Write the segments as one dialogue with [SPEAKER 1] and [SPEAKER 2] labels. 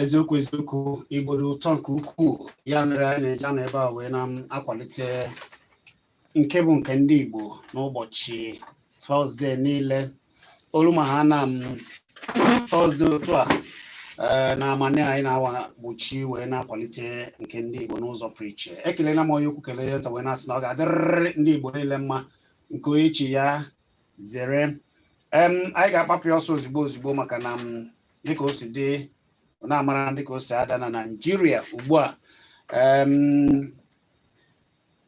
[SPEAKER 1] eziokwu eziokwu igbo dị ụtọ nke ukwuu ya mere anyị na-eji anọ ebe a wee na-akwalite nke bụ nke ndị Igbo n'ụbọchị tọzde niile o ru ma ha na m tọzde otu a eh, na amani anyị na-awa gbochi wee na-akwalite nke ndị Igbo n'ụzọ pụrụ iche ekelela m onye ukwu kelee ya wee na-asị na ọ ga-adịrịrị ndị Igbo niile mma nke onye chi ya zere anyị ga-akpapụ ya ọsọ ozugbo ozugbo maka na m dịka o si dị na-amara dịka o si ada na Naịjirịa ugbu a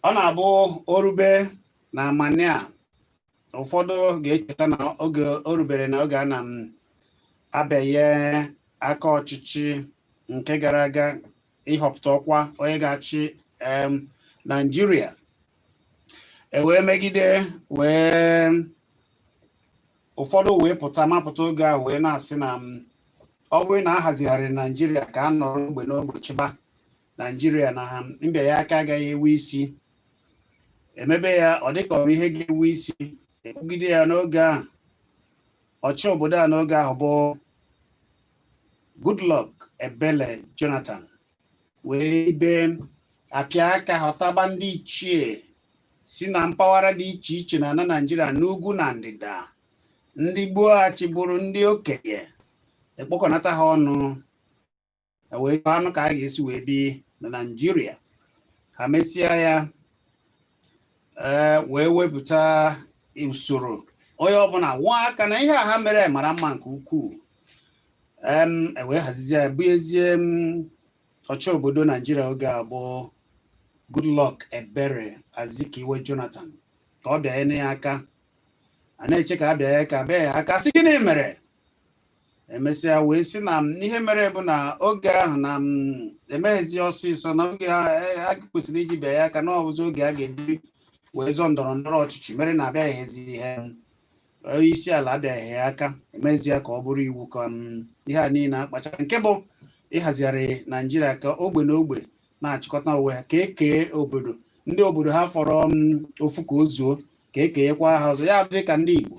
[SPEAKER 1] ọ na-abụ o rube na amani a ụfọdụ ga-echeta na oge o rubere na oge a na m abịanye aka ọchịchị nke gara aga ịhọpụta ọkwa onye ga-achị em, naijiria e wee megide wee ụfọdụ wee pụta mapụta oge ahụ wee na-asị na m, ọ bụrụ na ahazigharị naijiria ka a nọrọ ogbe n'ogbe chịba naijiria na ha mbịa ya aka agaghị enwe isi e mebe ya ọ dịka ọ bụ ihe ga-enwe isi e kwugide ya n'oge ahụ ọchị obodo a n'oge ahụ bụ Goodluck Ebele Jonathan wee ibe apịa aka họtaba ndị ichie si na mpaghara dị iche iche na na Naịjirịa n'ugwu na ndịda ndị gboo achịburu ndị okenye e kpokọnata ha ọnụ e wee chọwanụ ka a ga-esi wee bi na naijiria ha mesịa ya ee wee wepụta usoro onye ọbụla kụọ aka na ihe a ha mere mara mma nke ukwuu em e wee hazizie ya bụ ezie m ọchị obodo naijiria oge a bụ goodluck ebele azikiwe jonathan ka ọ bịanye ya aka a na-eche ka a bịa ya aka bịa ya aka sị gịnị mere emesịa wee sị na ihe mere bụ na oge ahụ na emeghịzi ọsịsọ na oge a kwesịrị iji bịa ya aka na ọ bụzi oge a ga-eji wee zọọ ndọrọ ndọrọ ọchịchị mere na abịaghịzi ihe onye isi ala abịaghị ya aka emezi ya ka ọ bụrụ iwu ka ihe a niile a kpachara nke bụ ịhazigharị naijiria ka ogbe na ogbe na-achịkọta onwe ha ka ekee obodo ndị obodo ha fọrọ mm, ofu ka o zuo ka ekenyekwa ha ọzọ ya dị ka ndị Igbo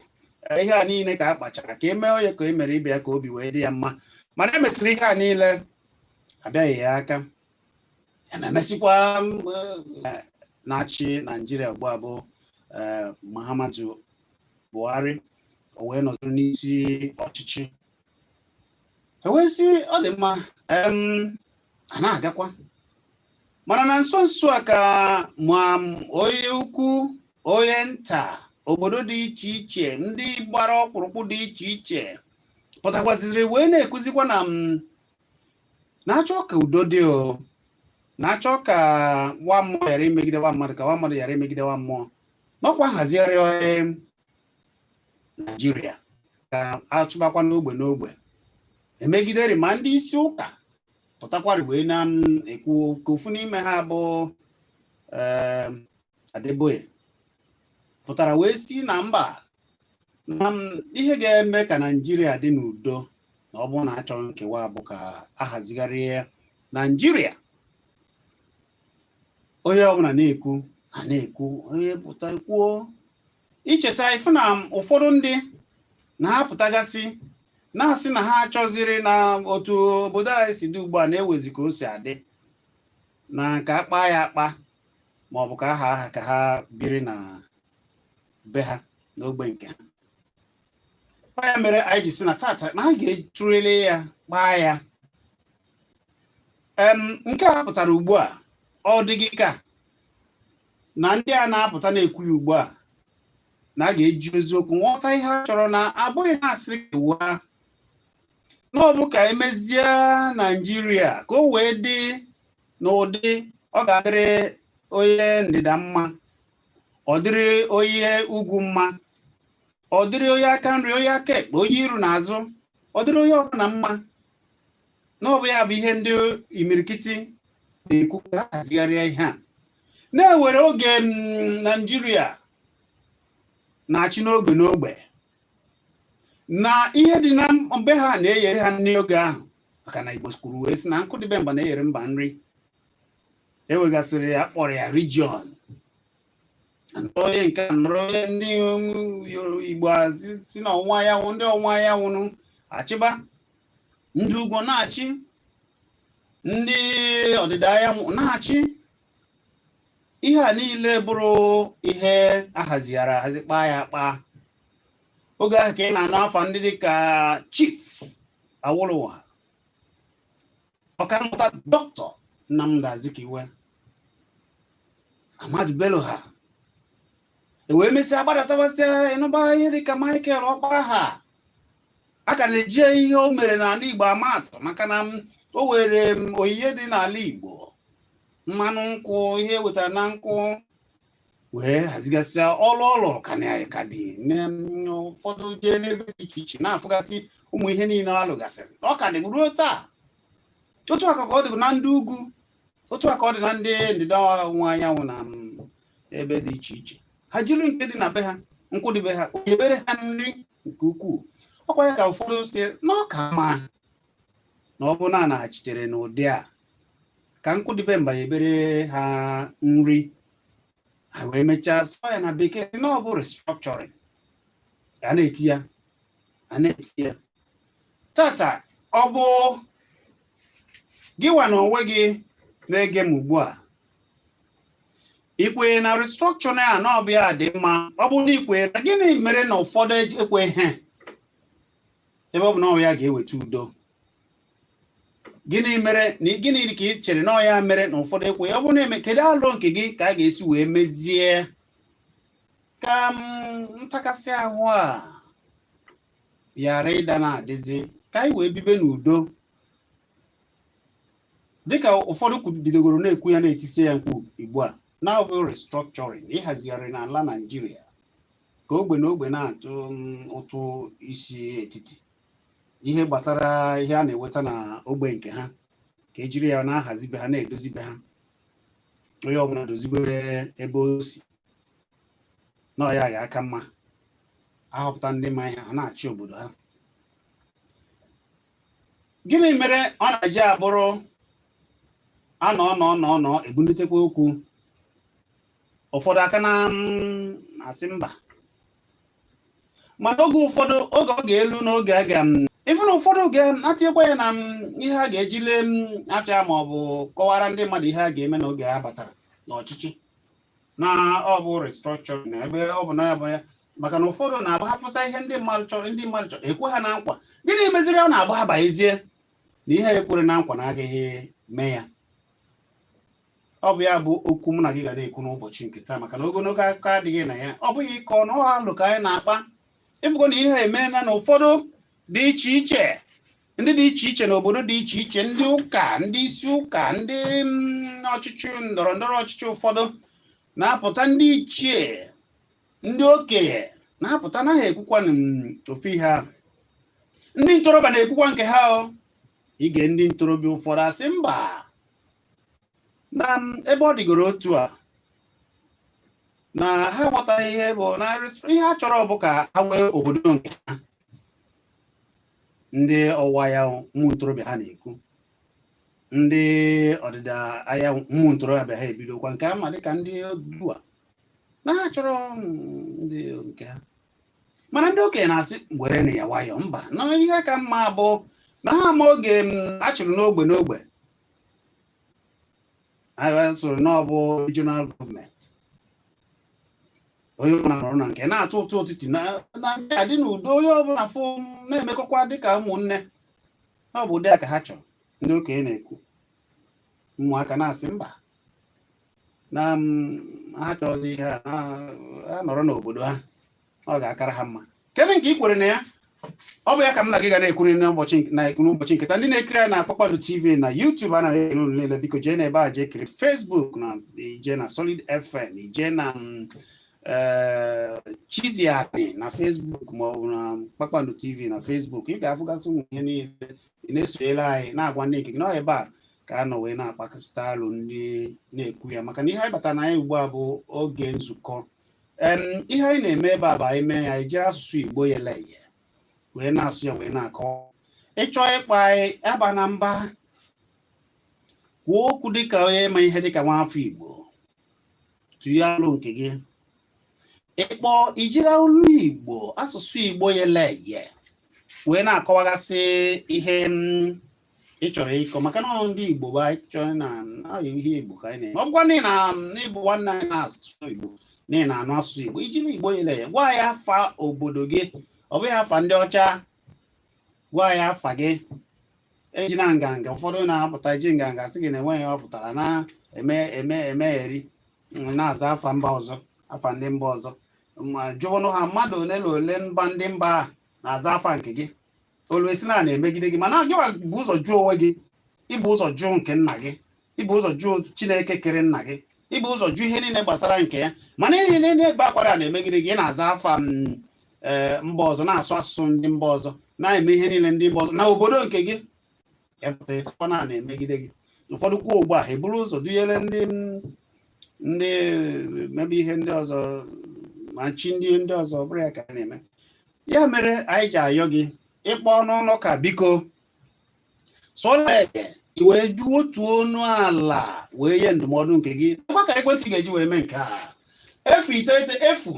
[SPEAKER 1] eh, ihe a niile ka a kpachara ka emee onye ka e mere ibe ya ka obi wee dị ya mma mana emesịrị ihe a niile abịaghị ya aka ememesịkwa mm, eh, na-achị Naijiria ugbu a bụ eh, Muhammadu Buhari o wee nọziri n'isi ọchịchị e wee sị ọ dị mma a na-agakwa mana na nso nso a ka ma onye ukwu onye nta obodo dị iche iche ndị gbara ọkpụrụkpụ dị iche iche pụtakwaziri wee na-ekuzikwa na na-achọ ka udo dị o na-achọ ka nwa mmụọ ghara imegide nwa mmadụ ka nwa mmadụ ghara imegide nwa mmụọ n'ọkwa nhazigharị Naijiria ka achịbakwa n'ogbe n'ogbe emegidere ma ndị isi ụka pụtakwara wee na-ekwu ka ofu n'ime ha bụ ehm, Adeboye pụtara wee sị na mba na ihe ga-eme ka Naijiria dị n'udo na ọ bụrụ na achọghị nkewa bụ ka ahazigharịa Naijiria onye ọbụla na-ekwu a na-ekwu onye pụta kwuo i cheta ị fụ na ụfọdụ ndị na-apụtagasị na-asị na ha achọziri na otu obodo anyị si dị ugbu a na-ewezi ka o si adị na ka a kpaa ya akpa ma ọ bụ ka a haa ha ka ha biri na be ha n'ogbe nke ha ya mere anyị ji sị na tata na anyị ga-atụlerịrị ya kpaa ya nke a pụtara ugbu a ọ dị gị ka na ndị a na-apụta na-ekwu ya ugbu a na a ga-eji eziokwu ghọta ihe a chọrọ na abụghị na-asị kewaa na ọ bụ ka emezie naijiria ka o wee dị n'ụdị ọ ga-adịrị onye ndịda mma ọ dịrị onye ugwu mma ọ dịrị onye aka nri onye aka ekpe onye iru na azụ ọ dịrị onye ọbụla mma na ọ bụ ya bụ ihe ndị imirikiti na-ekwu ka a hazigharịa ihe a na-ewere oge m, naijiria na-achị n'ogbe n'ogbe na ihe dị na be ha na-eyere ha nri oge ahụ maka na igbo kwuru wee sị na nkụ dị be mba na-eyere mba nri ewegasịrị ya kpọrọ ya region onye nke a nọrọ onye ndị igbo si na ọwụwa anyanwụ ndị ọwụwa anyanwụ achịba ndị ugwu na-achị ndị ọdịda anyanwụ na-achị ihe a niile bụrụ ihe ahazighara ahazi kpaa ya akpa oge ahụ ka ị na-anụ afa ndị dị ka chief awolowo ọkammụta Doctor Nnamdi Azikiwe Ahmadu Bello ha ewee mesịa gbadatabasịa ịnụba ihe dịka Michael Ọkpara ha a ka na-eji ihe o mere n'ala Igbo ama atụ maka na o were onyinye dị n'ala Igbo mmanụ nkwụ ihe e wetara na nkwụ wee hazigasịa ọlụ ọlụ ka na ka dị na- m, ụfọdụ jee n'ebe dị iche iche na-afụgasị ụmụ ihe niine ọ lụgasịrị ọ ka dị ruo taa otu aka ka ọ dị na ndị ugwu otu aka ọ dị na ndị ndịda ọwụwa anyanwụ na m, ebe dị iche iche ha jiri nke dị na be ha nkụ dị be ha o yebere ha nri nke ukwuu ọkwa ya ka ụfọdụ si na ọ ka mma na ọ bụrụ na a naghachitere n'ụdị a ka nkụ dị be mba yebere ha nri ha wee mechaa sụọ ya na bekee si na ọ bụ restructuring a na-eti ya a na-eti ya tata ọ bụ gịwa na onwe gị na-ege m ugbu a i kwere na restructuring a na ọ bụ ya dị mma ọ bụrụ na i kwee na gịnị mere na ụfọdụ ekweghị ebe ọ bụ na ọ bụ ya ga-eweta udo gịnị mere na gịnị ka ị chere na ọ ya mere na ụfọdụ ekwe ọ bụ na-eme kedu alo nke gị ka a ga-esi wee mezie ka ntakasị ahụ a ghara ịda na-adịzi ka anyị wee bibe n'udo dịka ụfọdụ bidogoro na-ekwu ya na-etisi ya mkpu ugbu a na ọ bụ restructuring ịhazigharị n'ala Naijiria ka ogbe na ogbe na-atụ mm, ụtụ isi etiti ihe gbasara ihe a na-eweta na ogbe nke ha ka ejiri ya na-ahazi be ha na-edozi be ha onye ọbụla dozibe ebe o si na ọ ya ga-aka mma a họpụta ndị ma ihe ha na-achị obodo ha gịnị mere ọ na-eji abụrụ a nọ nọ nọ nọ e bunitekwa okwu ụfọdụ a ka na mm, asị mba mana oge ụfọdụ oge ọ ga-elu n'oge a ga ife na ụfọdụ oge atinyekwa ya na ihe a ga-eji lee afịa ma ọ bụ kọwara ndị mmadụ ihe a ga-eme n'oge a batara n'ọchịchị na ọ bụ restructuring na ebe ọ bụ na ya bụ ya maka na ụfọdụ na-agba ha pụsa ihe ndị mmadụ chọrọ ndị mmadụ chọrọ e kwe ha na nkwa gịnị meziri ọ na-agba ha baezie na ihe e kwere na nkwa na agaghị eme ya ọ bụ ya bụ okwu mụ na gị ga na-ekwu n'ụbọchị nke taa maka na ogologo akụkọ adịghị na ya ọ bụghị ịkọ na ọha alo ka anyị na-akpa ị fụgo na ihe emeela na ụfọdụ dị iche iche ndị dị iche iche na obodo dị iche iche ndị ụka ndị isi ụka ndị mm, ọchịchị ndọrọ ndọrọ ọchịchị ụfọdụ na-apụta ndị ichie ndị okenye na-apụta na ha ekwukwa mm, ofu ihe ahụ ndị ntorobịa na-ekwukwa nke ha o i gee ndị ntorobịa ụfọdụ asị mba na ebe ọ dịgoro otu a na ha ghọtara ihe bụ na ihe ha chọrọ bụ ka ha nwee obodo nke ha ndị ọwụwa anyanwụ ụmụ ntorobịa ha na-ekwu ndị ọdịda anyanwụ ụmụ ntorobịa ha ebidokwa nke ha ma dịka ndị Odua na ha chọrọ ndị nke ha mana ndị okenye na-asị werenụ ya nwayọ mba na ihe ka mma bụ na ha ma oge a chịrị n'ogbe n'ogbe anyị sịrị na ọ bụ regional government onye ọbụla nọrọ na nke na-atụ ụtụ etiti na-adị n'udo onye ọbụla fụ na-emekọkwa dịka ụmụnne ọ bụ ụdị a ka ha chọrọ ndị okenye na-ekwu ụmụaka na-asị mba na ha chọzi ihe a ha nọrọ n'obodo ha ọ ga-akara ha mma kedu nke ị kwere na ya ọ bụ ya ka m na gị ga na-ekwuri n'ụbọchị nke taa ndị na-ekiri anyị na Kpakpando TV na YouTube a na-ekele unu niile biko jee n'ebe a jee kiri Facebook na i jee na Solid FM i jee na mm, eh, Chizzy Ani na Facebook ma ọ bụ na Kpakpando TV na Facebook ị ga-afụgasị ụmụ ihe niile ị na-esonyere anyị na-agwa ndị nke gị na ọ ebe a ka a nọ wee na-akpakọrịta alo ndị na-ekwu ya maka na ihe anyị batara na ya ugbu a bụ oge nzukọ em ihe anyị na-eme ebe a bụ anyị mee ya anyị jiri asụsụ igbo yele eye wee na-asụ ya wee na-akọ ị chọọ ịkpọ anyị abana mba kwuo okwu dịka onye ma ihe dịka nwa afọ igbo tụnye alo nke gị ị kpọọ i jiri olu igbo asụsụ igbo yele eye wee na-akọwagasị ihe ị chọrọ ịkọ maka na ndị igbo bụ anyị chọrọ na ọ ihe igbo ka anyị na-eme ọ bụkwa na ị bụ nwanne anyị na-asụ asụsụ igbo na ị na-anụ asụsụ igbo i jiri igbo yele eye gwa anyị afa obodo gị ọ bụghị afa ndị ọcha gwa anyị afa gị ejina nganga ụfọdụ na-apụta eji nganga sị gị na enweghị ọ pụtara na-eme eme emegheri na-aza afa mba ọzọ afa ndị mba ọzọ ma jụọnụ ha mmadụ ole na ole mba ndị mba a na-aza afa nke gị o lue a sị na a na-emegide gị mana gịwa bu ụzọ jụ onwe gị ibu ụzọ jụ nke nna gị ibu ụzọ jụ chineke kere nna gị ibu ụzọ jụ ihe niile gbasara nke ya mana ị na-ebe akwa na a na-emegide gị ị na-aza afa mm, eh, mba ọzọ na-asụ asụsụ ndị mba ọzọ na-eme ihe niile ndị mba ọzọ na obodo nke gị ị pụta na a na-emegide gị ụfọdụ kwuo ugbu a eburu ụzọ dunyere ndị mm, ndị mebe ihe ndị ọzọ ma chi ndị ndị ọzọ bụrụ ya ka a na-eme ya mere anyị ji ayọ gị ị kpọọ n'ụlọ ka biko sọleke i wee ju otu ọnụ ala wee nye ndụmọdụ nke gị ngwa akara ekwentị ị ga-eji wee mee nke a efu iteghete efu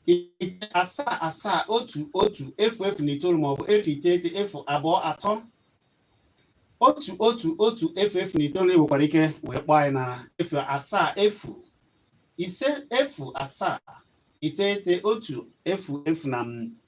[SPEAKER 1] ise asaa asaa otu otu efu efu na itoolu maọbụ efu iteghete efu abụọ atọ otu otu otu efu efu na itoolu i nwekwara ike wee kpọọ anyị na efu asaa efu ise efu asaa iteghete otu efu efu na m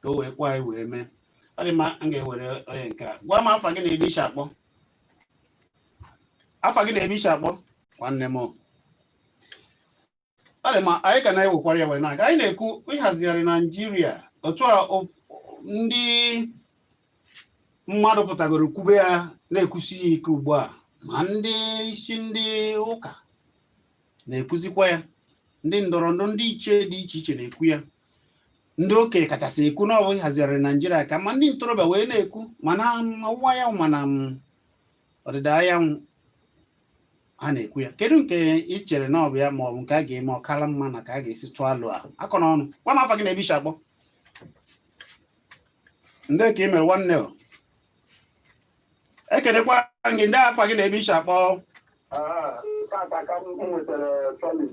[SPEAKER 1] ka o wee kwe anyị wee mee ọ dị mma m ga-ewere onye nke a gwa m afa gị na ebe i si akpọ afa gị na ebe i si akpọ nwanne m ọ dị mma anyị ka na-ewekwara ya wee na-aga anyị na-ekwu ịhazigharị naijiria otu a o- ndị mmadụ pụtagoro kwube ya na-ekwusi ya ike ugbu a ma ndị isi ndị ụka na-ekwuzikwa ya ndị ndọrọ ndọrọ ndị iche dị iche iche na-ekwu ya ndị okenye kachasị ekwu na ọ bụ ịhazigharị naijiria ka ma ndị ntorobịa wee na-ekwu ma n'ọwụwa anyanwụ ma n'ọdịda anyanwụ ha na-ekwu ya kedu nke ị chere na ọ bụ ya ma ọ bụ nke a ga-eme ọ kara mma na ka a ga-esi tụọ alo ahụ akọ n'ọnụ gwa m afa gị na ebe i si akpọ ndee ka i mere nwanne o ekenekwa gị ndee afa gị na ebe i si akpọ Ah, tata ka m nwetara solid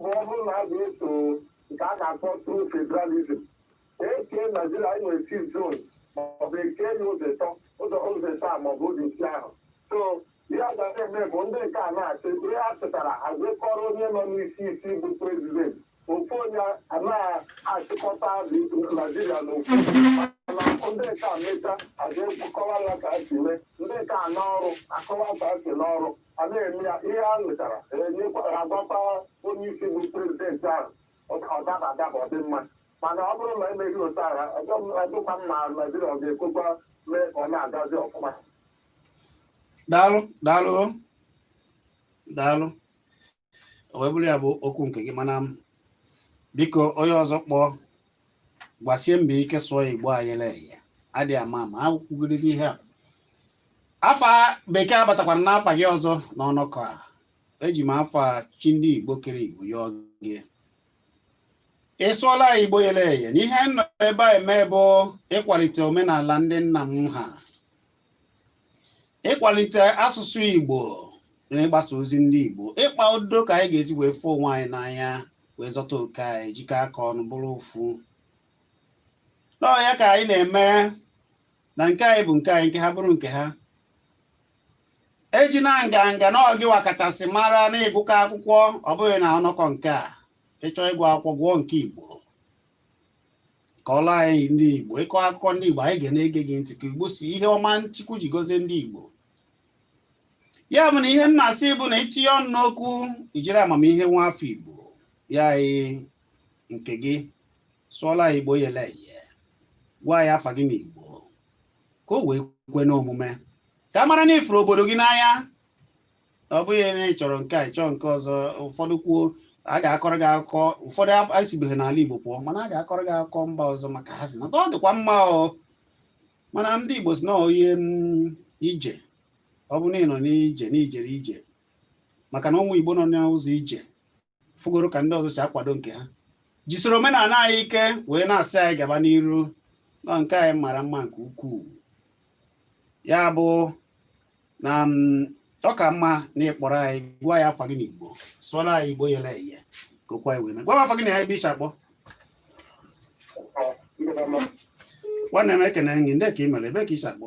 [SPEAKER 2] bụ ọ bụrụ na a ga-eso nke a na-akpọ true federalism e kee naijiria anyị nwere six zones maọbụ e kee ya ụzọ ịtọ ụzọ ụzọ ịtọ a maọbụ ụzọ isii ahụ so ihe a ga na-eme bụ ndị nke a na-achị ihe a chịtara a jee kọọrọ onye nọ n'isi isi bụ prezident ofu onye anaghị achịkọta naijiria n'ofu mana ndị nke a mechaa a ga-ekwu kọwaa ya ka a si mee ndị nke a n'ọrụ akọwa ka a si n'ọrụ a na-eme ya ihe a nwetara enyekwara a gwakwa onye isi bụ prezidenti ahụ ọ daba adaba ọ dị mma mana ọ bụrụ na emeghị otu ahụ ọ dịkwa mma naijiria ọ ga-ekwekwa mee ka
[SPEAKER 1] ọ
[SPEAKER 2] na-agazi
[SPEAKER 1] ọfụma daalụ
[SPEAKER 2] daalụ
[SPEAKER 1] daalụ o wee bụrụ ya bụ okwu nke gị mana m biko onye ọzọ kpọọ gbasie mbọ ike sụọ ya igbo yele eye adịghị ama ama akwụgoro gị ihe a afa bekee abatakwara n'afa gị ọzọ n'ọnọkọ a eji m afa chi ndị igbo kere igbo yọọ gị ị sụọla ya igbo yele eye na ihe m nọ ebe a eme bụ ịkwalite omenala ndị nna m ha ịkwalite asụsụ Igbo na ịgbasa ozi ndị Igbo ịkpa udo ka anyị ga-esi wee fụ onwe anyị n'anya wee zọta oke anyị jikọ aka ọnụ bụrụ ofu na ọ ya ka anyị na-eme na nke anyị bụ nke anyị nke ha bụrụ nke ha ejina nganga na ọ gịwa kachasị mara na ị gụka akwụkwọ ọ bụghị na ọnọkọ nke a ị chọọ ịgụ akwụkwọ gụọ nke Igbo kọọla anyị ndị Igbo ịkọ akụkọ ndị Igbo anyị ga na-ege gị ntị ka Igbo si ihe ọma Chukwu ji gozie ndị Igbo ya bụ na ihe m na-asị bụ na ị tinye ọnụ n'okwu i jiri amamihe nwa afọ Igbo nye anyị nke gị sụọla anyị Igbo yele eye gwa anyị afa gị n'Igbo ka o wee kwe n'omume ka a mara na ị fụrụ obodo gị n'anya ọ bụghị na ị chọrọ nke a ị chọọ nke ọzọ ụfọdụ kwuo a ga-akọrọ gị akụkọ ụfọdụ esibeghị n'ala Igbo pụọ mana a ga-akọrọ gị akụkọ mba ọzọ maka a sị na ọ dịkwa mma o mana ndị Igbo sị na onye mm, ije ọ bụ na ị nọ n'ije na i jere ije maka na ụmụ Igbo nọ n'ụzọ ije fụgoro ka ndị ọzọ si akwado nke ha jisoro omenala anyị ike wee na-asị anyị gaba n'iru na nke anyị mara mma nke ukwuu ya bụ na mm, ọ ka mma na ị kpọrọ anyị gwa anyị afa gị n'Igbo sụọla anyị Igbo yele eye ka okwu anyị wee mee gwa m afa gị na ebe i si akpọ nwanne m ekene gị ndee ka i mere ebe ka i si akpọ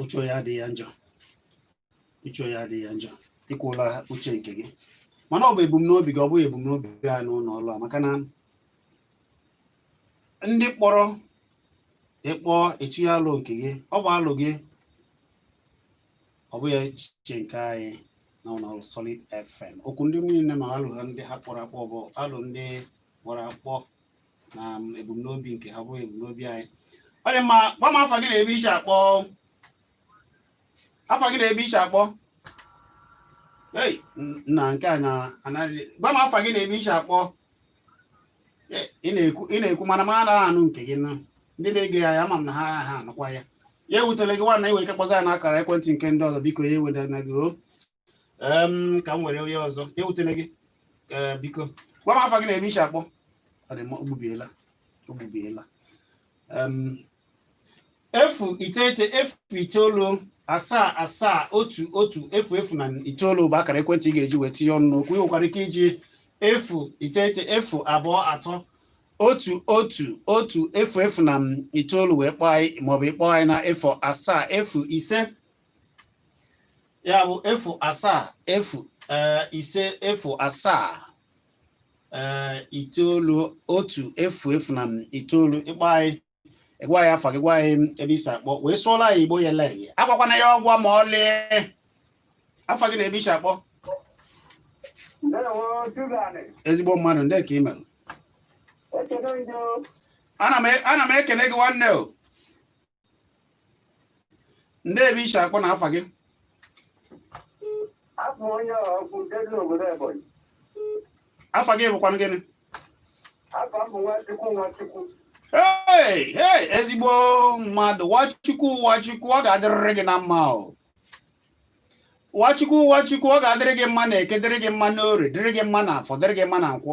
[SPEAKER 1] uche onye adịghị ya njọ uche onye adịghị ya njọ i kwuola uche nke gị mana ọ bụ ebumnobi gị ọ bụghị ebumnobi anyị n'ụlọ ọrụ a maka na ndị kpọrọ ị kpọọ etinye alo nke gị ọ bụ alo gị ọ bụghị echiche nke anyị na ụlọ ọrụ Solid FM okwu ndị niile na alo ha ndị ha kpọrọ akpọ bụ alo ndị kpọrọ akpọ na ebumnobi nke ha bụghị ebumnobi anyị ọ dị mma gwa m afa gị na ebe i si akpọ afa gị na ebe i si akpọ ei na nke a na-anaghị gwa m afa gị na ebe i si akpọ ị na-ekwu mana m anaghị anụ nke gị na ndị na-ege anyị ama m na ha anụkwaghị ya ewutele gị nwanna i nwee ike kpọzia anyị na akara ekwentị nke ndị ọzọ biko ya ewutena gị o Em, ka m were onye ọzọ ya ewutele gị Ee, biko gwa m afa gị na ebe i si akpọ Ọ dị mma, o gbubiela o gbubiela Em, efu iteghete efu itoolu asaa asaa otu otu efu efu na itoolu bụ akara ekwentị ị ga-eji wee tinye ọnụ n'okwu ị nwekwara ike iji efu iteghete efu abụọ atọ otu otu otu efu efu na itoolu wee kpọọ anyị maọbụ ị kpọọ anyị na efu asaa efu ise ya bụ efu asaa efu eh, ise efu asaa eh, itoolu otu efu efu na itoolu ị kpọọ anyị ị gwa anyị afa gị gwa anyị ebe i si akpọ wee sụọla anyị Igbo yele eye agwakwana ya ọgwa ma ọlị afa gị na ebe i si akpọ ezigbo mmadụ ndee ka i mere ana m e, ekele gị nwanne o ndị ebe i shi akpọ na afa gị afọ onye ọkụ nke dị n'obodo Ebonyi afa gị bụkwanụ gịnị afa m bụ Nwachukwu Nwachukwu hey hey ezigbo mmadụ Nwachukwu Nwachukwu ọ ga-adịrịrị gị na mma o Nwachukwu Nwachukwu ọ ga-adịrị gị mma na eke dịrị gị mma n'orie dịrị gị mma na afọ dịrị gị mma na nkwọ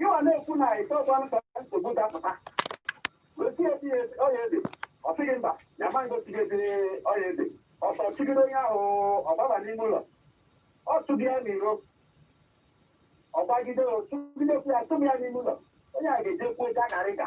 [SPEAKER 2] ịwa na-ekwu na ite ọgba nta nsogbu dapụta gosi ya tinye ọ ya ebe ọ sị gị mba ya ma ngosi gị tinye ọ ya ebe ọsọ chụgide onye ahụ ọ gbaba n'ime ụlọ ọ tụbi ya n'iro ọ gbagide ọ chụgidekwu ya chụba ya n'ime ụlọ onye a ga-eje kwuo ja karịka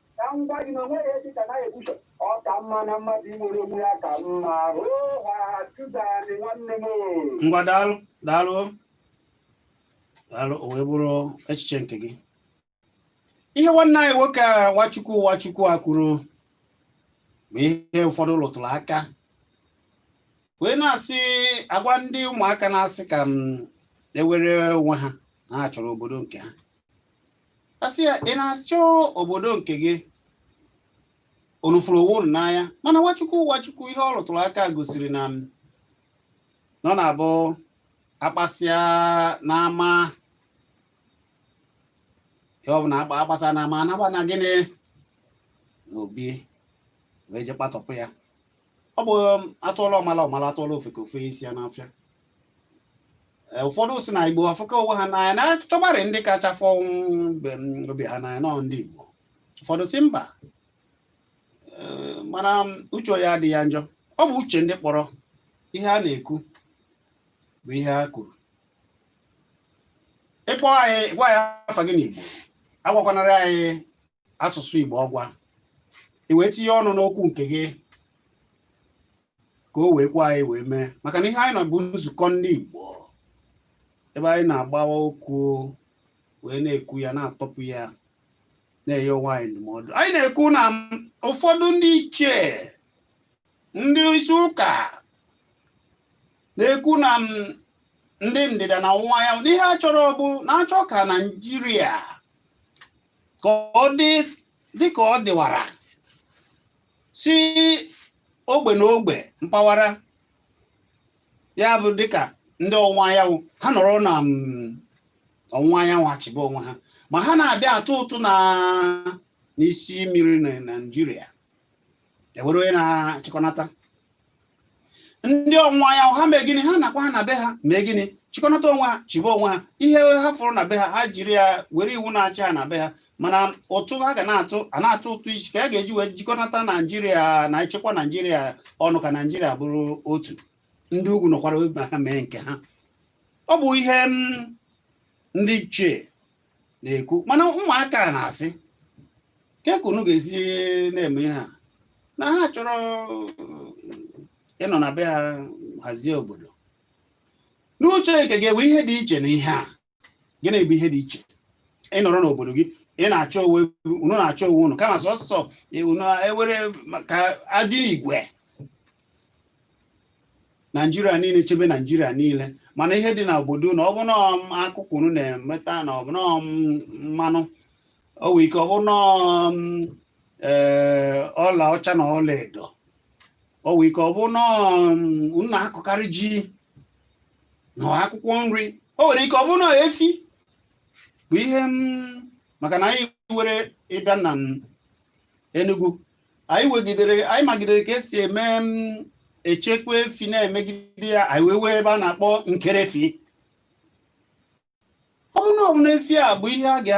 [SPEAKER 2] ka m gwa gị na o nweghị ebe ka naghị ekwucha ọ ka mma na mmadụ inwere onwe ya ka mma oha tuzani nwanne m ngwa daalụ daalụ
[SPEAKER 1] daalụ o wee bụrụ echiche nke gị ihe nwanne anyị nwoke a nwachukwu nwachukwu a kwuru bụ ihe ụfọdụ lụtụrụ aka wee na-asị a gwa ndị ụmụaka na-asị ka mm e nwere onwe ha na ha chọrọ obodo nke ha a sị ya ị na-achọ obodo nke gị unu fụrụ onwe unu n'anya mana Nwachukwu Nwachukwu ihe ọ rụtụrụ aka gosiri na mm n'ọ na-abụ a kpasịa n'ama ihe ọ bụna a kpasịa n'ama a naba na gịnị n'obi wee je kpatọpụ ya ọ bụ um, atụọla ọmala ọmala atụọla ofeke o fe isi ya n'ọfịa Eh, ụfọdụ sị na igbo afụka onwe ha n'anya na a chọbarị ndị kacha fụ obi ha n'anya n'ọ ndị igbo ụfọdụ sị mba eh, mana uche ya adịghị ya njọ ọ bụ uche ndị kpọrọ ihe a na-ekwu bụ ihe ha kwuru ị kpọọ anyị gwa anyị afa gị n'igbo agwakwanarị anyị asụsụ Igbo ọgwa i wee tinye ọnụ n'okwu nke gị ka o wee kwe anyị wee mee maka na ihe anyị nọ bụ nzukọ ndị Igbo ebe anyị na-agbawa okwu wee na-ekwu ya na-atọpụ ya na-enye onwe anyị ndụmọdụ anyị na-ekwu na ụfọdụ ndị ichie ndị isi ụka na-ekwu na ndị ndịda na ọwụwa anyanwụ n'ihe ha chọrọ bụ na-achọ ka naijiria ka ọ dị dị ka ọ dịwara si ogbe na ogbe mpaghara ya bụ dịka ndị ọwụwa anyanwụ ha nọrọ na mm, ọwụwa anyanwụ achịba onwe ha ma ha na-abịa atụ ụtụ na n'isi mmiri na naijiria e nwere onye na-achịkọnata ndị ọwụwa anyanwụ ha mee gịnị ha nakwa ha na be ha mee gịnị chịkọnata onwe ha chịba onwe ha ihe ha fụrụ na be ha ha jiri ya were iwu na-achị ha na be ha mana ụtụ ha ga na-atụ a na-atụ ụtụ isi ka a ga-eji wee jikọnata naijiria na-echekwa naijiria ọnụ ka naijiria bụrụ otu ndị ugwu nọkwara obi ha mee nke ha ọ bụ ihe mm, ndị ichie na-ekwu mana ụmụaka na-asị kee ka unu ga-esi na-eme ihe a na ha chọrọ ịnọ na be ha hazie obodo n'uche nke gị enwe ihe dị iche na ihe a gịnị bụ ihe dị iche ịnọrọ n'obodo gị ị na-achị onwe unu na-achị onwe unu kama sọsọ unu ewere ka adị igwe naijiria niile chebe naijiria niile mana ihe dị na obodo unu ọ bụ na akụkụ unu na-emeta na ọ bụ na mmanụ o nwere ike ọ bụ na um, ee, ọla ọcha na ọla edo o nwere ike ọ bụ na um, unu na-akọkarị ji na akwụkwọ nri o nwere ike ọ bụ na efi bụ ihe m maka na anyị were ịbịa na m Enugu anyị wegidere anyị magidere ka esi eme m echekwa efi na-emegide ya anyị wee nwee ebe a na-akpọ nkerefi ọ bụrụ na ọ bụ na efi a bụ ihe a ga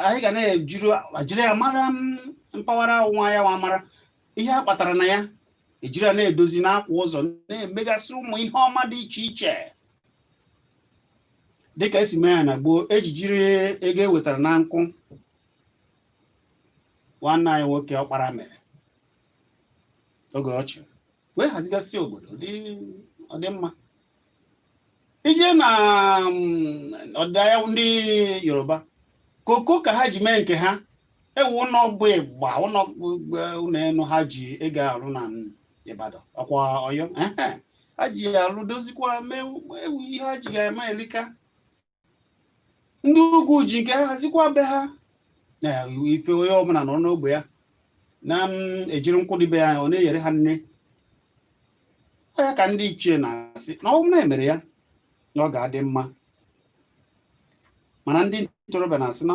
[SPEAKER 1] anyị ga na-ejiri ejiri ya mara m mpaghara ọwụwa anyanwụ mara ihe a kpatara na ya ejiri ya na-edozi na-akwa ụzọ na-emegasị ụmụ ihe ọma dị iche iche dịka esi mee ya na gboo ejijiri ego e wetara na nkwụ nwanne anyị nwoke ọkpara mere oge ọ chịrị wee hazigasị obodo ọ dị mma ị jee na mm, ọdịda anyanwụ ndị yoruba koko ka ha ji mee nke ha ewu ụnọ bụ ịgba ụnọ eh, ụnọ enu ha ji ego arụ na mm, ibadan ọkwa ọyọ ehe. ha ji ya alụ dozikwa mee ewu ihe ha ji ya eme elika ndị ugwu ji nke ha hazikwa be ha na ife onye ọbụla nọ n'ogbe ya na-ejiri nke dị be ya ọ na-eyere ha nne ọ ya ka ndị ichie na-asị na ọ bụrụ na emere ya na ọ ga-adị mma mana ndị ntorobịa na-asị na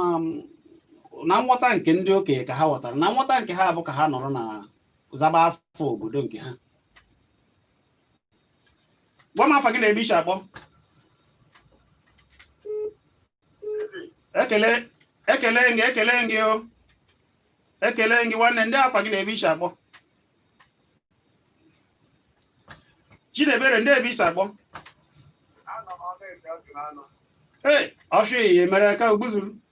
[SPEAKER 1] na nghọta nke ndị okenye ka ha ghọtara na nghọta nke ha bụ ka ha nọrọ na-azaba afa obodo nke ha gwa m afa gị na ebe i si akpọ ekele ekele gị ekele gị o ekele gị nwanne ndee afa gị na ebe i si akpọ Chinebere ndee ebe i si akpọ ee ọfịa ihe mere ka ogbuzuru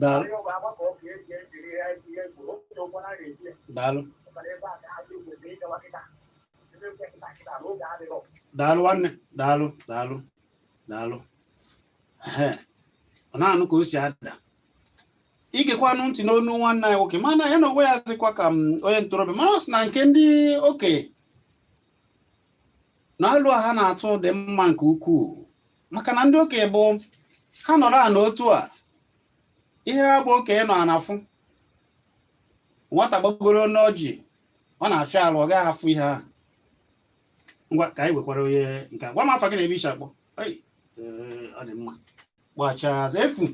[SPEAKER 1] daalụ daalụ daalụ nwanne daalụ daalụ daalụ ọ na-anụ ka o si ada igekwanụ ntị n'onu nwanne anyị nwoke mana ya n'onwe ya dịkwa ka mm, onye ntorobịa mana ọ sị na nke ndị okenye na alo ha na-atụ dị mma nke ukwuu maka na ndị okenye bụ ha nọrọ ana otu a ihe ha bụ okenye nọ ana fụ nwata gbagoro n'ọjị ọ na-afịa alụ ọ gaghị afụ ihe ahụ ngwa ka anyị wekwara onye nke a. gwa m afa gị na ebe i shi akpọ Ei, ee, ọ dị mma gbachaa azụ efu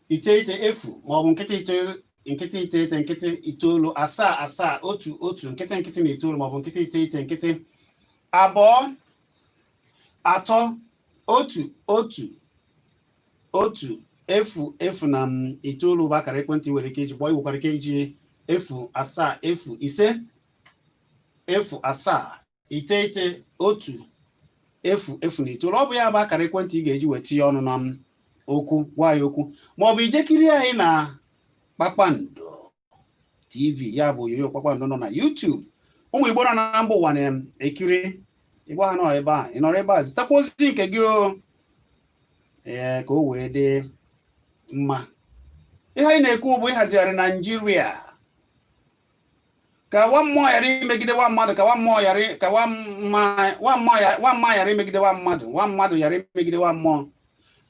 [SPEAKER 1] iteghete efu ma ọ bụ nkịtị iteghete nkịtị itoolu asaa asaa otu otu nkịtị nkịtị na itoolu ma ọ bụ nkịtị iteghete nkịtị abụọ atọ otu otu otu efu efu na mm itoolu bụ akara ekwentị i nwere ike iji kpọọ i nwekwara ike iji efu asaa efu ise efu asaa iteghete otu efu efu na itoolu ọ bụ ya bụ akara ekwentị ị ga-eji wee tinye ọnụ na okwu gwa ya okwu ma ọ bụ i je kiri anyị na kpakpando tv ya bụ onyonyo kpakpando nọ na YouTube ụmụ igbo nọ na mba ụwa na-ekiri igbo ha nọ ebe a ị nọrọ ebe a zitakwa ozi nke gị o ee ka o wee dị mma ihe anyị na-ekwu bụ ịhazigharị naijiria ka nwa mmụọ ghara imegide nwa mmadụ ka nwa mmụọ ghara imegide nwa mmadụ nwa mmadụ ghara imegide nwa mmụọ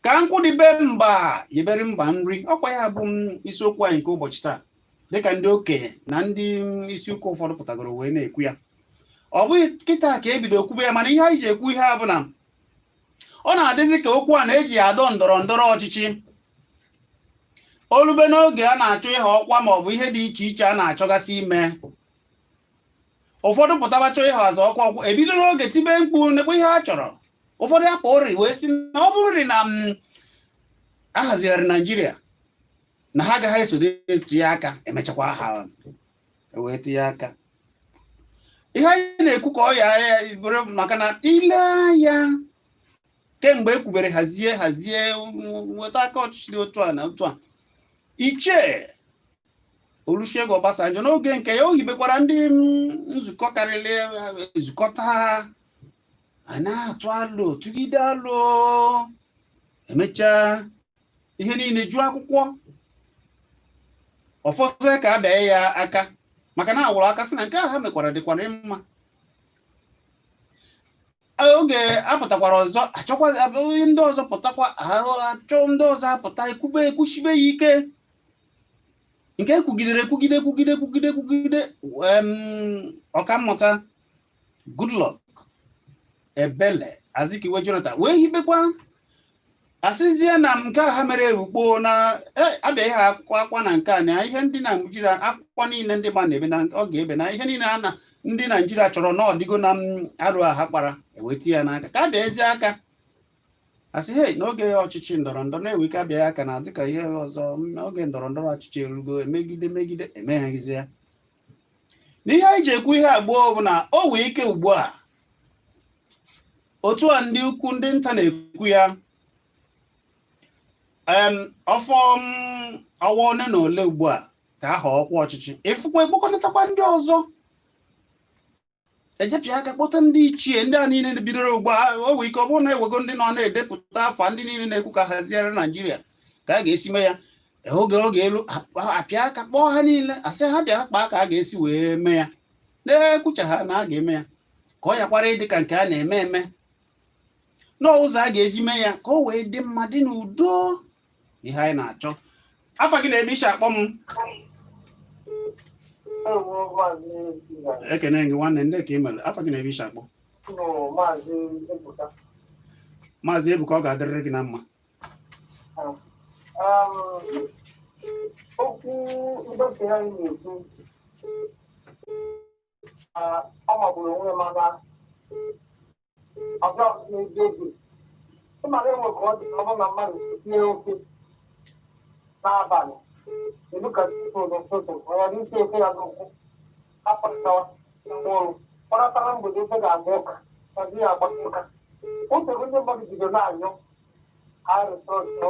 [SPEAKER 1] ka nkụ dị be mba yebere mba nri ọ kwa ya bụ isiokwu anyị nke ụbọchị taa dịka ndị okenye na ndị isi ụka ụfọdụ pụtagoro wee na-ekwu ya ọ bụghị kịta ka e bido okwube ya mana ihe anyị ji ekwu ihe a bụ na ọ na-adịzi ka okwu a na-eji adọ ndọrọ ndọrọ ọchịchị o lube n'oge a na-achọ ịha ọkwa ma ọ bụ ihe dị iche iche a na-achọgasị ime ụfọdụ pụtaba chọọ ịha azọ ọkwa ọkwa e bido n'oge tibe mkpu nekwa ihe a chọrọ ụfọdụ akpa oriri wee sị na ọ bụrụrị na mm, ahazigharị naijiria na ha agaghị esode etinye aka emechakwa ha ewee tinye aka ihe anyị na-ekwu ka ọ ghara ya bụrụ maka na i lee anya kemgbe e kwubere hazie hazie nweta aka ọchịchị dị otu a na otu a Ichie Olusegun Obasanjo n'oge nke ya o hibekwara ndị nzukọ karịrị nzukọta a na-atụ alo tụgide alo emechaa ihe niile juo akwụkwọ ọ fọ sọ ka a bịa ya aka maka na awụrụ aka sị na nke a ha mekwara dịkwara mma oge apụtakwara ọzọ achọkwa ndị ọzọ pụtakwa achọ ndị ọzọ apụta ekwube ekwuchibe ya ike nke ekwugidere ekwugide ekwugide ekwugide ekwugide em, ọkammụta Goodluck Ebele Azikiwe Jonathan wee hibekwa asịzie na nke a ha mere ewukpoo na e, abịaghị ha akwụkwọ akwa na nke a na ihe ndị Naijiria akwụkwọ niile ndị gba na-ebe na ọ ga-ebe na ihe niile a na ndị Naijiria chọrọ na ọ dịgo na m, arụ a ha kpara eweta ya n'aka ka a bịazie aka asị he n'oge ọchịchị ndọrọ ndọrọ na-ewe ike abịaghị aka na dịka ihe ọzọ m, oge ndọrọ ndọrọ ọchịchị erugo emegide megide emeghaghịzi ya na ihe anyị ji ekwu ihe a gboo bụ na o wee ike ugbu a otu a ndị ukwu ndị nta na-ekwu ya ọ fọ ọwa ole na ole ugbu a ka a họọ ọkwa ọchịchị ị fụkwa ekpokọnatakwa ndị ọzọ e je pịa aka kpọta ndị ichie ndị a niile bidoro ugbu a o nwee ike ọ bụrụ na ewego ndị nọ na-edepụta afa ndị niile na-ekwu ka a haziere Naijiria ka a ga-esi mee ya oge oge elu a pịa aka kpọọ ha niile a sị ha bịa kpaa ka a ga-esi wee mee ya na-ekwucha ha na a ga-eme ya ka ọ yakwara ịdị ka nke a na-eme eme n'ụzọ a ga-eji mee ya ka o wee dị mma dị n'udo ihe anyị na-achọ afa gị na ebe i si akpọ m ekene gị nwanne ndee ka i mere afa gị na ebe i si akpọ Maazị Ebuka ọ ga-adịrịrị gị na
[SPEAKER 2] mma okwu ndọpụ ya na-ekwu ọ magburu onwe ya mana ọbịa n'ezi oge ị mara enwe ka ọ dị ka ọ bụrụ na mmadụ tee ofe n'abalị elu ka tupu n'ụtụtụ ọ ghara isi ofe ya n'ọkụ apụtawa mkpụrụ kpọratara mgbede ofe ga-agba ụka na di ya agba ụka otu ndị mmadụ bido na-anyụ arịsọsọ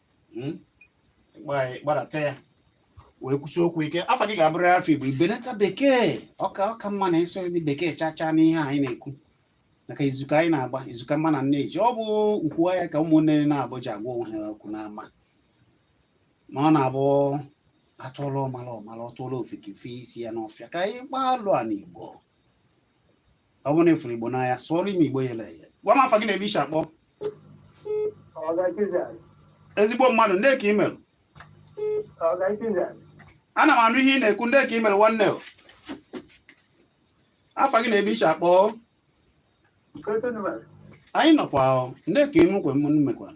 [SPEAKER 1] hmm? gbadata ya wee kwusi okwu ike afa gị ga-abụrụ afa Igbo i benata bekee ọ ka mma na ị sụghị bekee chachaa n'ihe anyị na-ekwu maka izu ka anyị na-agba izu ka mma na nne ji ọ bụ nkwuwa ya ka ụmụnne naabọ ji agwa onwe ha okwu n'ama ma ọ na-abụ a tụọla ọmala ọ mala a tụọla ofeke o fee isi ya n'ọfịa ka anyị gbalịa n'Igbo ọ bụrụ na ị fụrụ igbo n'anya sụọrọ m igbo yele eye gwa m afa gị na ebe i si akpọ ezigbo mmadụ ndị ka ị mere ana m anụ ihe ị na-ekwu ndị ka ị mere nwanne afa gị na ebe i si akpọ anyị nọkwa ndị ka ị mekwa mmekwa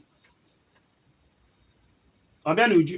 [SPEAKER 1] ọ bịa n'uju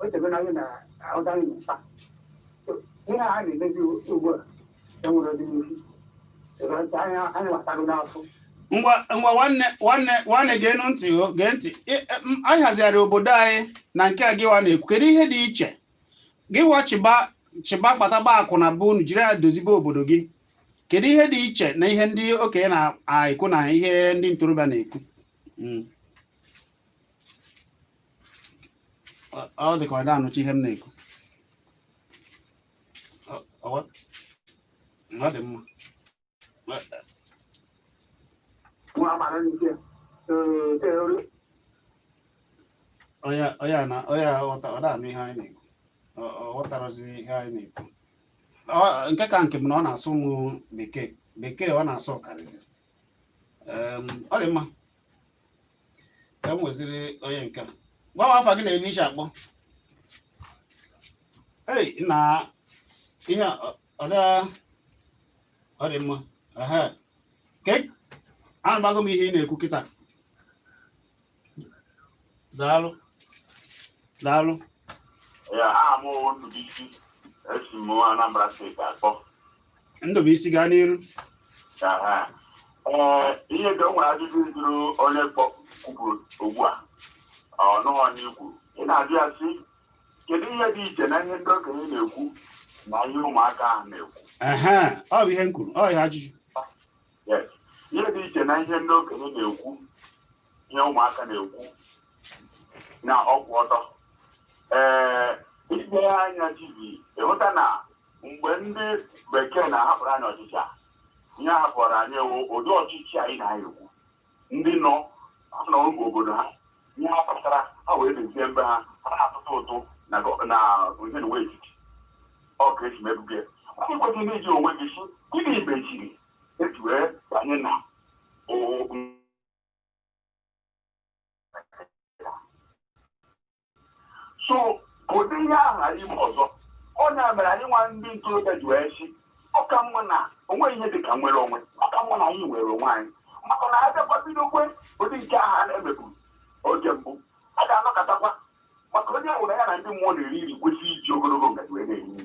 [SPEAKER 2] o teego na anyị na ọga anyị na-akpa So, ihe a na-emezi ugbu a enwere ọdịnihu ebe nke anyị anyị
[SPEAKER 1] gbatago n'afọ ngwa ngwa nwanne nwanne nwanne geenụ ntị o gee ntị Ị- e, m- anyị hazigharị obodo anyị na nke a gịwa na-ekwu kedu ihe dị iche gịwa chịba chịba kpatagba akụ na ụba unu jiri ya dozibe obodo gị kedu ihe dị iche na ihe ndị okenye na-ekwu na ihe ndị ntorobịa na-ekwu Mm. ọ dị ka ọ da-anụcha ihe m na-ekwu ọ dị mma onye ọ da-anụ ihe anyị na-ekwu ọ ghọtarazi ihe anyị na-ekwu nke ka nke m na ọ na-asụ m bekee bekee ọ na-asụ karịzi ọ dị mma ka m nweziri onye nke a gwa m afa gị na ebe i si akpọ ei na ihe a, ọ- ọ da ọ dị mma ehe ka e- anụbago m ihe ị na-ekwu kịta daalụ daalụ Ya aha m wụ Ndubuisi esi m Anambra steeti akpọ Ndụbụisi gaa n'iru Aha.
[SPEAKER 3] Ee, ihe dị o nwere ajụjụ ị jụrụ onye kpọ- kwuburu ugbu a ọ nụghị ihe i kwuru ị na-ajụ ya sị kedu ihe dị iche na ihe ndị okenye na-ekwu na ihe ụmụaka ahụ na-ekwu Aha, ọ bụ
[SPEAKER 1] ihe m kwuru ọ ihe ajụjụ
[SPEAKER 3] Yes. ihe dị iche na ihe ndị okenye na-ekwu ihe ụmụaka na-ekwu na ọ kwụ ọtọ ee i lee ya anya Chizzy ị hụta na mgbe ndị bekee na-ahapụrụ anyị ọchịchị a ihe a hapụrụ anyị wụ ụdị ọchịchị anyị na-ekwu ndị nọ nọbu obodo ha ihe ha kpatara ha wee mezie mbe ha ha na-atụtụ ụtụ na gọ- na ihe na etiti ọ ka e si mebu oge ndị kwesịrị n'iji onwe gị si gịnị mechiri eji wee banye na o- so ka ụdị ihe ahụ ghara ime ọzọ ọ ya mere anyịnwa ndị ntorobịa ji wee sị ọ ka mma na o nweghị ihe dị ka nwere onwe ọ ka mma na anyị nwere onwe anyị maka na a bịakwa bidokwa ụdị nke ahụ a na-emebu oge mbụ a ga-anọkatakwa maka onye ọ bụna ya na ndị mmụọ na-eri nri kwesịrị iji ogologo ngaji wee na-eri nri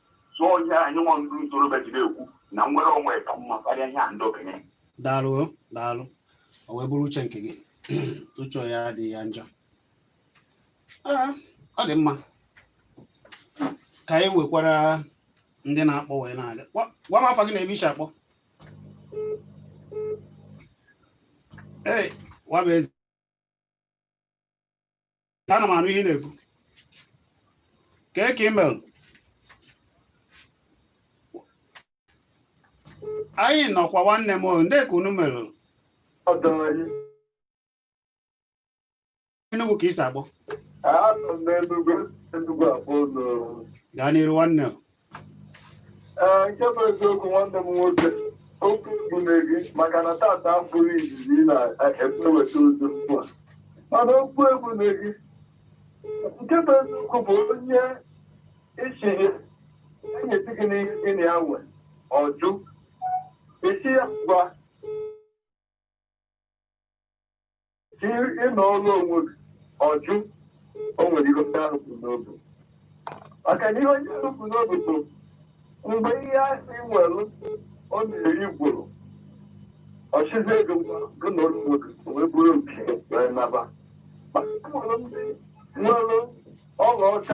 [SPEAKER 3] so ihe anyị nwa ndị ntorobịa ji na-ekwu na inwere onwe ka mma karịa ihe a ndị okenye daalụ
[SPEAKER 1] o, daalụ o wee bụrụ uche nke gị uche ya adịghị ya njọ Ee, ọ dị mma ka anyị wekwara ndị na-akpọ wee na-aga Gwa- gwa m afa gị na ebe i si akpọ ee Nwabụeze ana m anụ ihe ị na-ekwu kee ka i mere anyị nọkwa nwanne m o, ndị ka unu mere ọdọ anyị Enugu ka i si akpọ anọ m n'Enugu Enugu abụọ n'oru gaa n'iru nwanne m
[SPEAKER 2] ee nke bụ eziokwu nwanne m nwoke okwu egbune gị maka na tata abụrọ izizi ị na-eweta ozi ugbu a mana okwu egbune gị nke bụ eziokwu bụ onye ị sị ya nyetụ gị n'ihe gị na ya nwe ọ jụ ị sị ya ngwa ị nọrọ onwe gị ọ jụ o nwere ihe onye ahụ bu n'obi maka na ihe onye ahụ bu n'obi bụ mgbe ihe a sị i nwere ọ na-eri gwụrụ ọ sịzị gị gaa nọrọ onwe gị o wee buru nke wee naba maka nwere ndị nwere ọla ọcha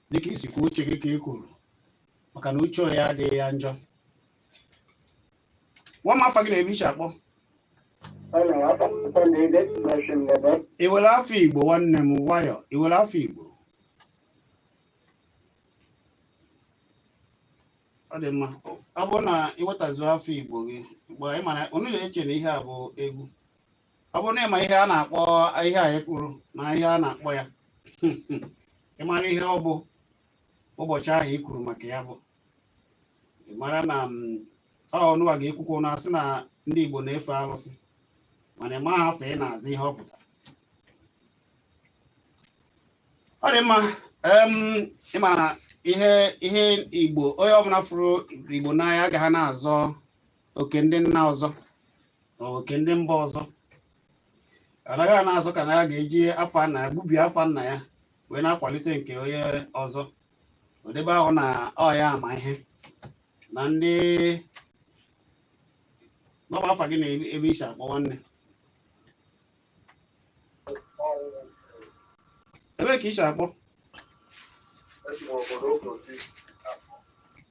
[SPEAKER 1] dịka i si kwuo uche gị ka ị kwuru maka na uche ya adịghị ya njọ gwa m afa gị na ebe i si akpọ i nwere afa Igbo nwanne m nwaanyị i nwere afa Igbo ọ dị mma ọ bụrụ na i wetazuo afa Igbo gị mgbe ị mara unu na-eche na ihe a bụ egwu ọ bụrụ na ị ma ihe a na-akpọ ihe a e kwuru na ihe a na-akpọ ya ị mara ihe ọ bụ ụbọchị ahụ i kwuru maka ya bụ ị mara na mm, ọ unuwa ga-ekwukwa na-asị na ndị Igbo na-efe arụsị mana ị maghị afa ị na-aza ihe ọ pụtara ọ dị mma em, ị ma na ihe ihe Igbo onye ọbụla fụrụ Igbo n'anya agaghị na-azọ oke ndị nna ọzọ ma oke ndị mba ọzọ anaghị a na-azọ ka na ya ga-eji afa nna ya gbubie afa nna ya wee na-akwalite nke onye ọzọ o debe ahụ na ọ ya ama ihe na ndị nọba afa gị na ebe i si akpọ nwanne ebe ka i si akpọ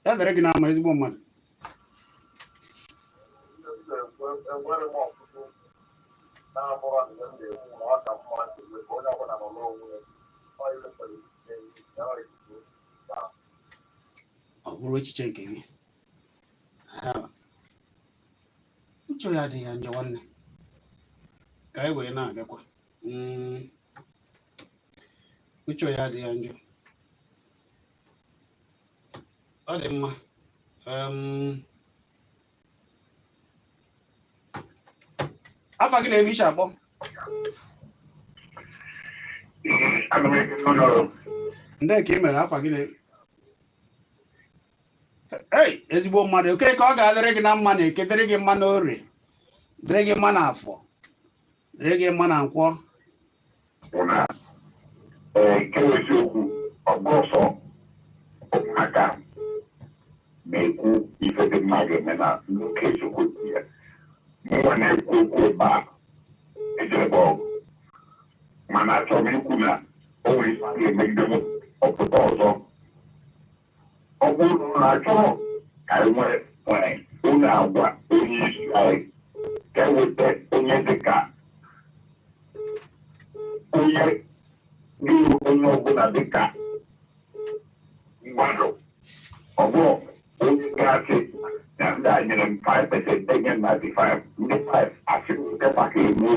[SPEAKER 1] ya dere gị n'ama ezigbo mmadụ ọ bụrụ echiche nke gị uche ya adịghị ya njọ nwanne ka anyị wee na-abịakwa hmm. uche ya adịghị ya njọ ọ dị mma afa gị na ebe i si akpọ ndee ka ị mere afa gị na ebe ei ezigbo mmadụ oke ka ọ ga-adịrị gị na mma na eke dịrị gị mma na orie dịrị gị mma na afọ dịrị gị mma na nkwọ nke
[SPEAKER 3] eziokwu ọgbọsọ ụmụaka na-ekwu ife dị mma ga-eme na nke eziokwu dị ya mụnwa na-ekwu okwu ebe a ejebe ọgụ mana achọrọ m ikwu na o nwere ife a ga-eme ndị ọpụta ọzọ ọ bụrụ na unu chọrọ ka anyị nwere nwere unu agwa onye isi anyị ka e weta onye dịka onye dịrị onye ọbụla dịka mmadụ ọ bụrụ onye ga-asị na ndị a nyere m 5 pesent enye m 95 ndị 5 asị m nke maka egbuo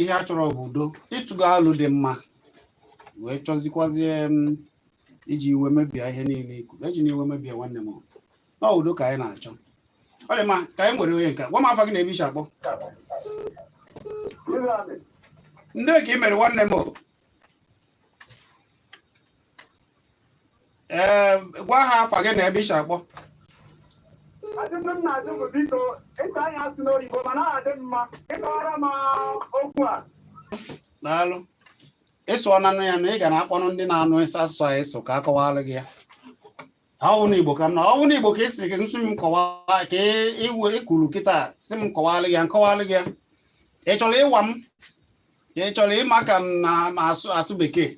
[SPEAKER 1] ihe a chọrọ bụ udo ị tụgo alo dị mma wee chọzikwazie iji iwe mebie ihe niile i kwuru ejina iwe mebie nwanne m na udo ka anyị na-achọ ọ dị mma ka anyị nwere onye nke a gwa m afa gị na ebe i si akpọ ndee ka ị mere nwanne m ee gwa ha afa gị na ebe i si akpọ Ajụjụ m na-ajụ bụ biko ịta anya asụ n'oyibo mana ọ adị mma ị kọwara m okwu a daalụ ịsụ ọnanụ ya na ị ga na-akpọnụ ndị na-anụ ịsụ asụsụ a ịsụ ka a kọwara gị ya ọ wụ na igbo ka m na ọ wụ na igbo ka esi gị nsụ m kọwaa ka ị- iwe i kwuru kịta sị m kọwara gị ya m kọwara gị ya ị chọrọ ịnwa m ka ị chọrọ ịma ka m na-asụ bekee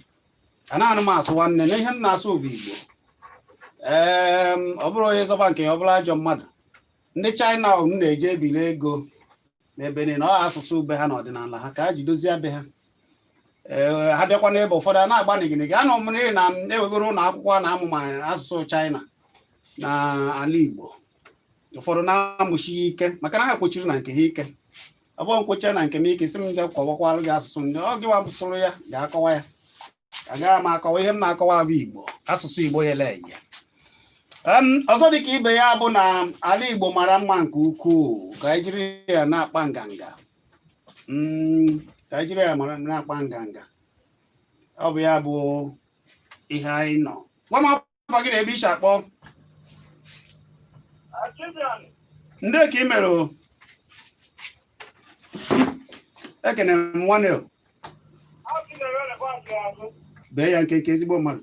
[SPEAKER 1] anaghị m asụ nwanne na ihe m na-asụ bụ igbo ee ọ bụrụ onye zọba nke ya ọ bụrụ ajọ mmadụ ndị China unu na-eje ebili ego n'ebe niile ọ asụsụ be ha na ọdịnala ha ka ha ji dozie be ha ee ha bịakwa n'ebe ụfọdụ a na-agba nigịnịgị anọ m n'ihi na e nwegoro ụlọ akwụkwọ a na-amụ ma asụsụ China na ala igbo ụfọdụ na-amụsi ya ike maka na ha kwesiri na nke ha ike ọ bụrụ m kwuchaa na nke m ị ka sị m ga kọwakwalụ gị asụsụ ndị ọ gịwa sụrụ ya ga-akọwa ya agaghị m akọwa ihe m na-akọwa bụ igbo asụsụ igbo ya ele ya ọzọ dị ka ibe ya bụ na ala igbo mara mma nke ukwuu ka anyị jiri ya na-akpa nganga mm, ka anyị jiri ya na-akpa nganga ọ bụ ya bụ ihe anyị nọ afa gị na ebe i si akpọ ndị ka ị mere o ekene m nwanne o bee ya nkenke ezigbo mmadụ